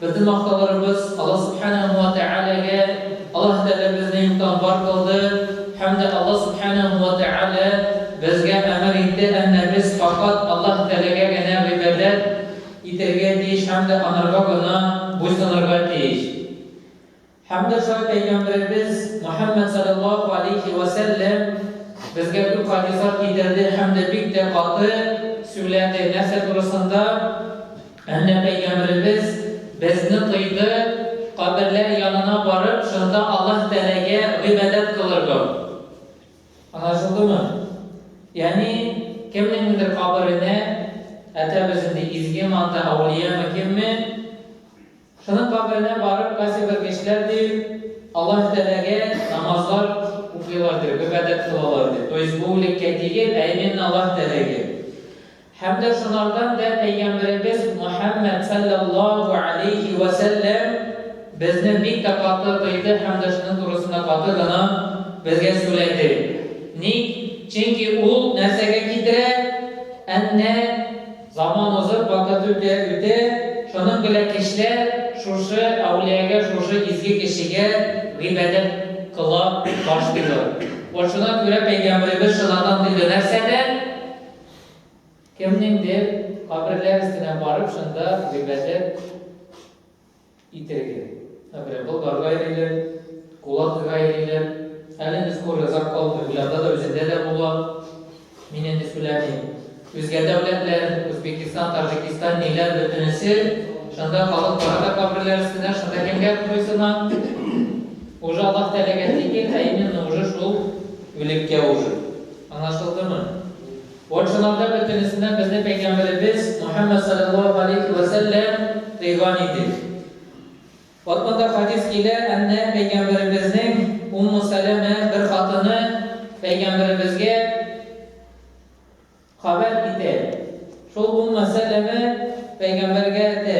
Безнең мактауларыбыз Аллаһ Сүбхәнәһү вә Тәгаләгә, Аллаһ Тәгалә безне юктан бар кылды һәм дә Аллаһ Сүбхәнәһү вә Тәгалә безгә әмер итте, әннә без фәкать Аллаһ Тәгаләгә генә гыйбадәт итәргә тиеш һәм дә анарга гына буйсынырга тиеш. Һәм дә шулай Пәйгамбәребез Мөхәммәд саләллаһу аләйһи вә сәлләм безгә күп хадислар китерде һәм дә бик тә каты сүләде, нәрсә турысында? Әнә Пәйгамбәребез безне тыйды каберләр янына барып, шунда Аллаһ Тәгаләгә гыйбадәт кылырга. Аңлашылдымы? Ягъни, кемнеңдер каберенә, әтәбез инде изгеме анда, әүлиямы, кемме, Шуның каберенә барып, кайсы бер кешеләр, ди, Аллаһы Тәгаләгә намазлар укыйлар, ди, гыйбадәт кылалар, ди. То есть бу үлеккә тигел, ә именно Аллаһы Тәгаләгә. Һәм дә шулардан да Пәйгамбәребез Мөхәммәд салләллаһу алейһи вә сәлләм безне бик тә каты тыйды һәм дә шуның турысында каты гына безгә сүләде. Ник? Чөнки ул нәрсәгә китерә? Әннә Заман узып, вакыт үтә, үтә, шуның белән кешеләр шушы әүлиягә, шушы изге кешегә гыйбадәт кыла башлыйлар. Вот шуна күрә Пәйгамбәребез шынадан тыйды нәрсәдән? Кемнеңдер каберләр өстенә барып, шунда гыйбадәт Итеге. Ә бирә болгар гайриле, кулак гайриле. Әле не скоро озак калмый, уйларда да үзендә дә була. Мин инде сүләмим. Үзгә дәүләтләр, Үзбекистан, Таҗикистан, ниләр бөтенесе, шунда халык бара да каберләр өстенә, шунда кемгә куйсына. Уже Аллах теләгән тигел, ә именно уже шул үлеккә уже. Аңлашылдымы? Патшаларда бөтенесеннән безне Пәйгамбәребез Мөхәммәд саләллаһу галәйһи вә сәлләм тыйган иде. Вәт монда хәдис килә, әннә Пәйгамбәребезнең Умму Сәләмә бер хатыны Пәйгамбәребезгә хәбәр итә. Шул Умму Сәләмә Пәйгамбәргә әйтә,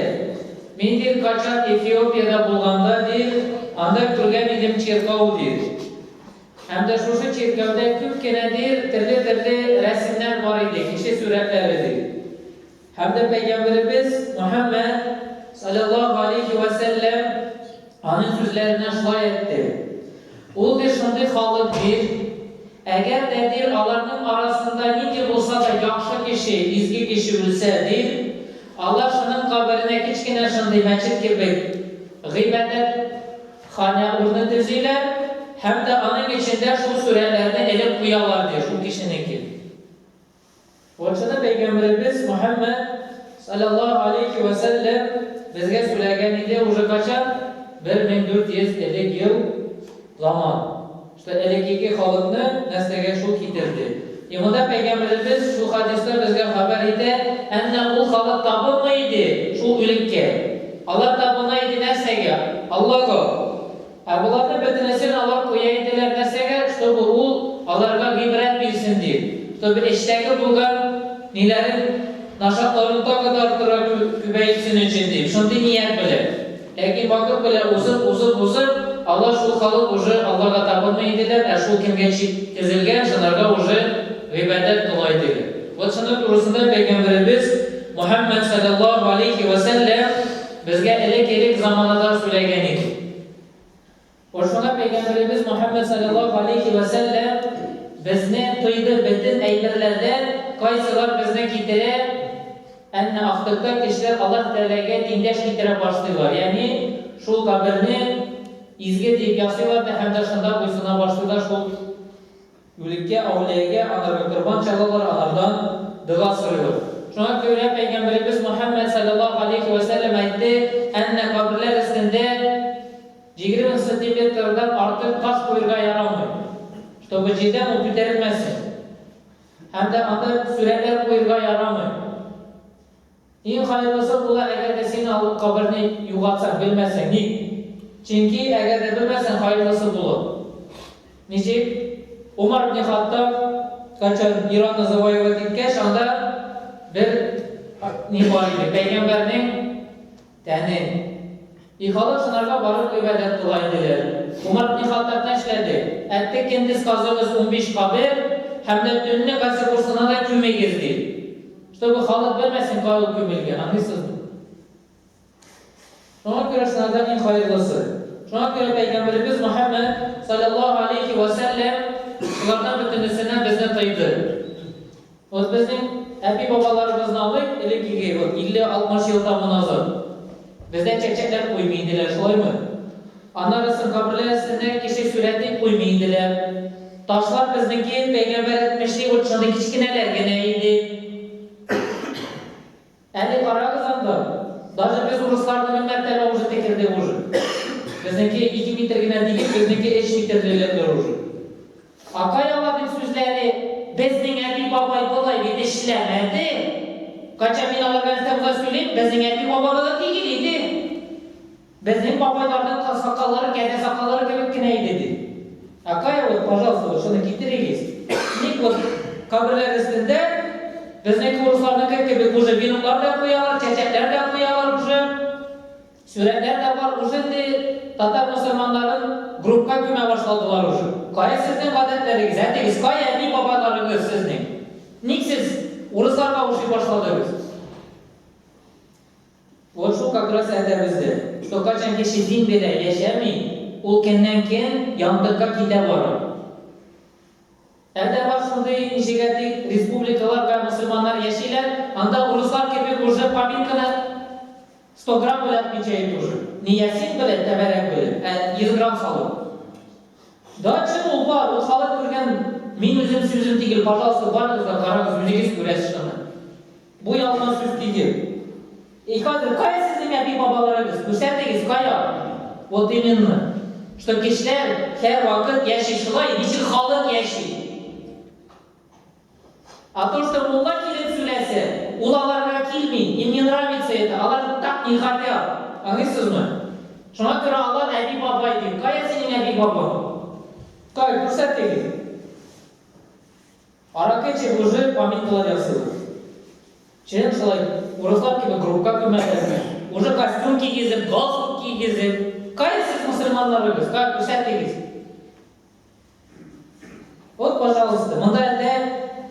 Мин дир качан Эфиопиядә булганда дир, анда күргән идем чиркау дир. Һәм дә шушы чиркәүдә күп кенә дир терле-терле рәсемнәр бар иде, кеше сүрәтләре ди. Һәм дә пәйгамберебез Мөхәммәд, салләллаһу галәйһи вә сәлләм, аның сүзләренә шулай әйтте. Ул ди, шундый халык дир, әгәр дә дир аларның арасында нинди булса да яхшы кеше, изге кеше үлсә дир, алар шуның каберенә кечкенә шундый мәчет кебек гыйбадәт, Ханя урыны төзиләр һәм дә аның эчендә шул сүрәләрне элеп куялар, ди, шул кешенеке. Польшада Пәйгамбәребез Мөхәммәд, салләллаһу алейһи вә сәлләм, безгә сүләгән иде, уже качан? 1400 элек ел ламан. Что элекеге халыкны нәрсәгә шул китерде? И монда Пәйгамбәребез шул хадисны безгә хәбәр итә, Әннә ул халык табынмый иде шул үлеккә. Алар табына иде нәрсәгә? Аллага. Ә боларны бөтенесен алар куя иделәр нәрсәгә? Чтобы ул аларга гыйбрәт бирсен дип. Чтобы эчтәге булган ниләрен, нашатларын тагы да артырак күбәйтсен өчен дип. Шундый ният белән. Ләкин вакыт белән узып, узып, узып, алар шул халык уже Аллага табынмый иделәр, ә шул кемгә чик тезелгән, шынарга уже гыйбадәт була идеге. Вот шынар турысында Пәйгамбәребез Мөхәммәд салләллаһу алейһи вә сәлләм безгә элек-элек заманада сүләгән иде. Ошыга Пәйгамбәребез Мөхәммәд салләллаһу галәйһи вә сәлләм безне тыйды бөтен әйберләрдән, кайсылар безне китерә, әннә ахтыкта кешеләр Аллаһ Тәгаләгә тиңдәш китерә башлыйлар, ягъни шул каберне изге диеп ясыйлар да һәм дә шунда буйсына башлыйлар, шул Үлеккә, әүлиягә, анарга корбан чалалар, анардан дога сорыйлар. Шуңа күрә Пәйгамбәребез Мөхәммәд салләллаһу галәйһи вә сәлләм әйтте, әннә каберләр өстендә җигерме сантиметрдан артык таш куерга ярамый, чтобы җирдән ул күтәрелмәсен. Һәм дә анда сүрәләр куерга ярамый. Иң хайырлысы була әгәр дә син ул каберне югалтсаң, белмәсәң. Ник? Чөнки әгәр дә белмәсәң, хайырлысы булыр. Ничек? Умар ибне Хаттаб кайчан Иранны завоевать иткәч, анда бер ни бар иде, пәйгамбәрнең Тәне. Ихалы сынарга барып гөбәдәт кыла иделәр. Умар бни Хаттаб тәшләде, Әтте кендез казыгыз унбиш кабер һәм дә төнне гази курсына да күмегез, ди. Чтобы халык белмәсен, кая ул күмелгән, аңлыйсызмы? Шуңа күрә сынардан иң хайырлысы. Шуңа күрә Пәйгамбәребез Мөхәммәд салләллаһу алейхи вә сәлләм шулардан бөтенесенә безне тыйды. Ул безнең әби-бабаларыбызны алыйк, элеккеге, вот 50-60 ел тому назад. Бездә чәчәкләр куймый иделәр, шулаймы? Аннары соң каберләр өстенә кеше сурәте куймый иделәр. Ташлар безнеке, пәйгамбәр әйтмешли, вот шундый кечкенәләр генә иде. Әни карагыз анда, даже без урысларны мең мәртәбә уже текердек уже. Безнеке ике метр генә дигез, безнеке эч метрле лендер уже. Акай ала бит сүзләре, безнең әби бабай болай бит эшләмәде. Кайчан мин аларга рфмга сөйлим, безнең әби бабабыз икигил иде. Безнең бабайларның аксакаллары кәдә сакаллары кебек кенә иде, ди. Ә кая ул, пожалуйста, вот шуны китерегез. Ник вот каберләр өстендә безнеке урысларныкы кебек уже веноклар да куялар, чәчәкләр дә куялар уже, сурәтләр дә бар, уже инде татар мөселманнарын группка күмә башладылар уже. Кая сезнең гадәтләрегез? Әтегез кая, әти бабайларыгыз сезнең? Ник сез урысларга ошый башладыгыз? Вот шул как раз әтәбезде. Что качан кеше дин белә яшәми, ул кеннән кен яңдыкка китә барып. Әдә бар шундый ничек әти республикалар вә мусульманнар яшиләр, анда урыслар кебек уже поминканы сто грамм белән отмечает уже. Не ясин белән, тәбәрәк белән, ә йөз грамм салып. Да чын ул бар, ул халык күргән, мин үзем сүзем тигел, пожалуйста барыгыз да карагыз, үзегез күрәсез шуны. Бу ялган сүз тигел. И хәзер кая сезнең әби бабаларыгыз? Күрсәтегез, кая? Вот именно. Что кешеләр һәр вакыт яши шулай, ничек халык яши. А то что мулла килеп сүләсе, ул аларга килми, им не нравится это, алар так не хотят. Аңыйсызмы? Шуңа күрә алар әби бабай ди. Кая синең әби бабаң? Кай, күрсәтегез. Аракы эчеп уже поминкалар ясыйм. Чын шулай, урыслар кебек группка күмәләрме? Уже костюм кигезеп, галстук кигезеп. Кая сез мусульманнарыгыз? Кая күрсәтегез? Вот, пожалуйста, монда әллә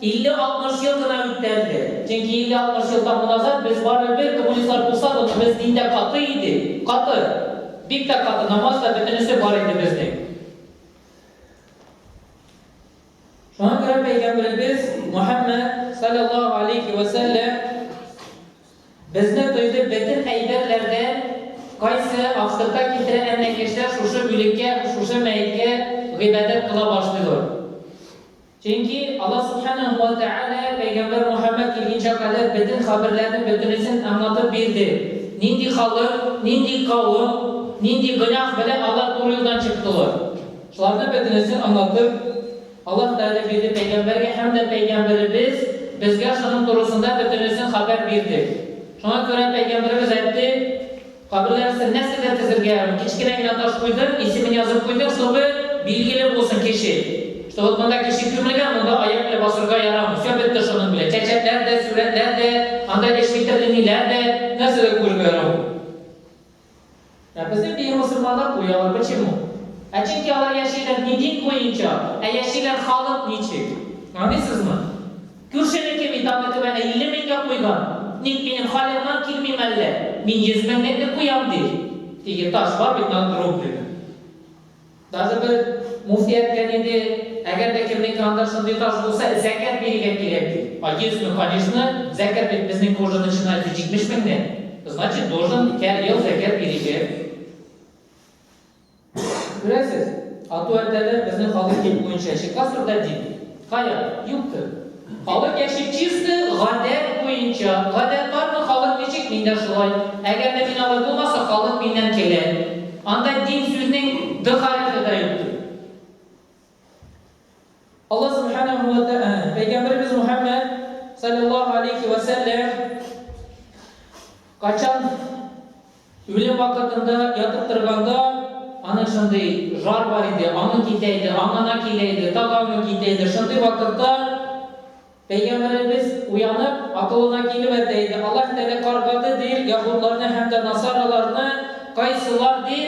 50-60 ел гына үткәнде. Чөнки 50-60 елдан муназат без бары бер коммунистлар булса да, без диндә каты иде. Каты. Бик тә каты. Намаз да бөтенесе бар иде безнең. Шуңа күрә Пәйгамбәребез Мөхәммәд саллаллаху алейхи ва сәлләм безне тойды бөтен әйберләрдән кайсы абсырта китерә әнә кешеләр шушы бүлеккә, шушы мәеткә гыйбадәт кыла башлыйлар. Чөнки Аллаһ субханаһу ва тәгалә Пәйгамбәр Мөхәммәд килгәнчә кадәр бөтен хәбәрләрне бөтенесен аңлатып бирде. Нинди халык, нинди кавым, нинди гөнаһ белән алар туры юлдан чыктылар. Шуларны бөтенесен аңлатып, Аллаһ Тәгалә бирде пәйгамбәргә һәм дә пәйгамбәребез безгә шуның турысында бөтенесен хәбәр бирде. Шуңа күрә пәйгамбәребез әйтте, Каберләр өстен нәрсәдер тезергә ярамый. Кечкенә генә таш куйдың, исемен язып куйдың, чтобы билгеле булсын кеше, что вот монда кеше күмелгән, монда аяк белән басырга ярамый. Все бетте шуның белән. Чәчәкләр дә, сурәтләр дә, анда эш бетерлениләр дә, нәрсә дә күрергә ярамый. Ә безнең дин мөселманнар куялар, почему? Ә чөнки алар яшиләр не дин буенча, ә яшиләр халык ничек. Аңлыйсызмы? Күршенеке бит аны түбән 50 меңгә куйган, ник минем халернан килмим әллә, мин 100 меңнекне куям ди. Теге таш бар бит над рублеме. Даже бер муфти әйткән иде, әгәр дә кемнең анда шундый таш булса, зәкят бирергә кирәк ди. А если, конечно, зәкят бит безнең кожа начинается 70 меңнән, значит должен һәр ел зәкят бирергә. Күрәсез, ату әтәләр безнең халык дин буенча чикласыр да дин. Кая, юктыр. Халык яши чисто гадәт буенча. Гадәт бармы, халык ничек, мин дә шулай. Әгәр дә мин алай булмаса, халык миннән көлә. Анда дин сүзнең Д хәрефе дә юктыр. Алла Сүбхәнәһү вә тә ә, Пәйгамбәребез Мөхәммәд, салләллаһу алейһи вә сәлләм, качан. Үлем вакытында ятып торганда, аның шундый жар бар иде, аңы китә иде, аңына килә иде, тагы аңы китә иде. Шундый вакытта Пәйгамбәребез уянып, акылына килеп әйтә иде, Аллаһ Тәгалә каргады, ди, яһудларны һәм дә насараларны, кайсылар, ди,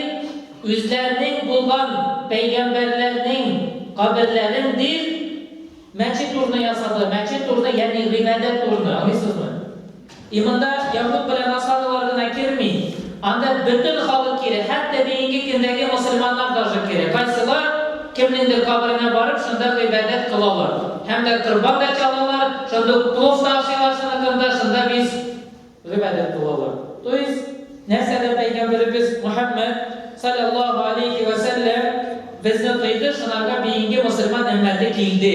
үзләренең булган пәйгамбәрләрнең каберләрен, ди, мәчет урыны ясады, мәчет урыны, ягъни гыйбадәт урыны, аңлыйсызмы? И монда яһүд белән насаралар гына керми, анда бөтен халык керә, хәтта бүгенге көндәге мөселманнар даже керә. Кайсылар кемнеңдер каберенә барып, шунда гыйбадәт кылалар. Һәм дә корбан да чалалар, шунда ук плов та ашыйлар шуныкында, шунда бис гыйбадәт кылалар. То есть, нәрсәдә Пәйгамбәребез Мөхәммәд, салләллаһу алейһи вә сәлләм, безне тыйды, шунарга бүгенге мөселман өммәте килде.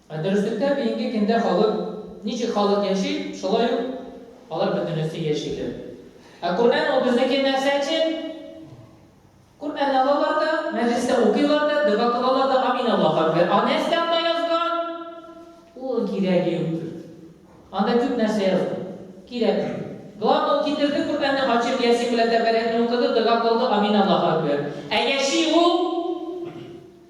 Ә дөреслектә бигенге кендә халык, ничек халык яши, шулай ук алар бөтенесе яшиләр. Ә Коръән ул безнеке нәрсә өчен? Коръәнне алалар да, мәҗлестә укыйлар да, дога кылалар да, амин Аллаһу әкбәр. А нәрсә анда язган? Ул кирәге юктыр. Анда күп нәрсә язган. Кирәкми. Главное ул китерде Коръәнне ачып, Ясин белән Тәбәрәкне укыды, дога кылды, амин Аллаһу әкбәр. Ә яши ул?